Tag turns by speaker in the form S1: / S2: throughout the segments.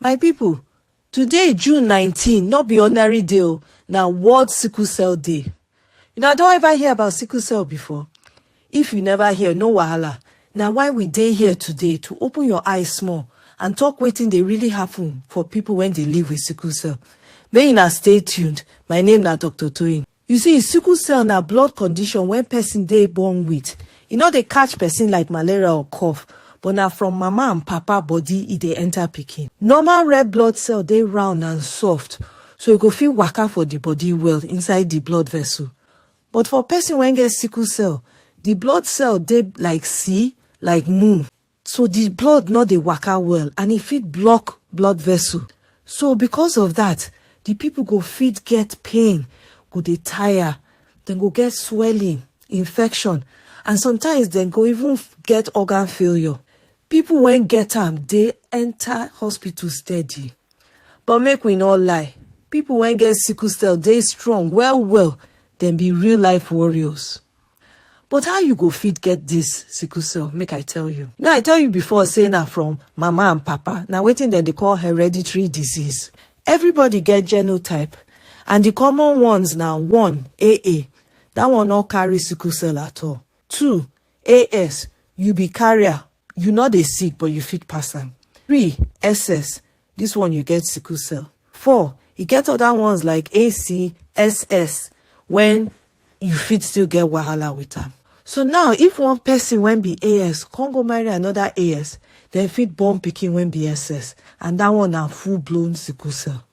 S1: My people, today June 19 no be ordinary day o, na World Sickle Cell Day. Una don ever hear about sickle cell before? If you never hear, no wahala. Na why we dey here today to open your eyes small and talk wetin dey really happen for people wey dey live with sickle cell. Make una stay tuned. My name na Dr. Toyin. You see, sickle cell na blood condition wen person dey born with. E no dey catch person like malaria or cough, but na from mama and papa body e dey enter pikin. Normal red blood cell dey round and soft, so e go fit waka for di body well inside di blood vessel. But for person wen get sickle cell, di blood cell dey like see like move. so di blood no dey waka well and e fit block blood vessel so because of dat di pipo go fit get pain go dey tire dem go get swelling infection and sometimes dem go even get organ failure pipo wey get am dey enta hospital steady but make we no lie pipo wey get sickle cell dey strong well well dem be real life warriors. But how you go fit get this sickle cell? Make I tell you. Now I tell you before say na from mama and papa. Na wetin dem dey call hereditary disease. Everybody get genotype and the common ones na one AA. That one no carry sickle cell at all. Two AS you be carrier you no dey sick but you fit pass am three ss this one you get sickle cell four e get other ones like acss when you fit still get wahala with am so now if one person when be as come go marry another as dem fit born pikin when be ss and that one na full blown sickle cell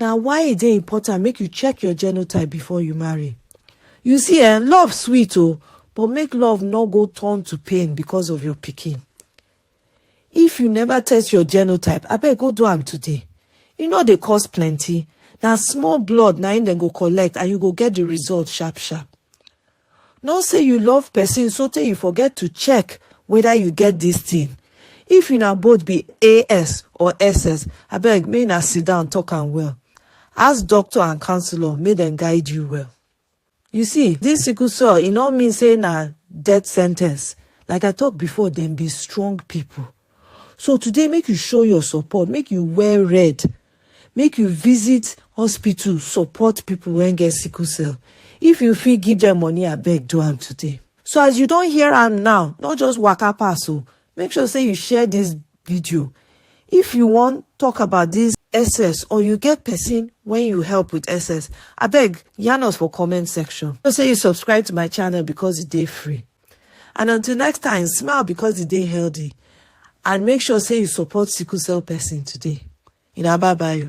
S1: Na why e dey important make you check your genotype before you marry. You see eh, love sweet oh, but make love no go turn to pain because of your pikin. If you never test your genotype, abeg go do am today. E no dey cost plenty, na small blood na im dem go collect and you go get the result sharp sharp. Not say you love person sotey you forget to check whether you get this thing. If una both be AS or SS, abeg make una sit down talk am well. Ask doctor and counselor make dem guide you well. You see, this sickle cell e no mean say na death sentence. Like I talk before, dem be strong people. So today make you show your support, make you wear red Make you visit hospital support people wey get sickle cell. If you fit give dem money abeg do am today. So as you don hear am now, no just waka pass o, make sure say you share this video. If you wan talk about this SS or you get person when you help with SS, abeg yarn us for comment section. Know say you subscribe to my channel because e dey free. And until next time, smile because you dey healthy and make sure say you support sickle cell person today. Una bye bye.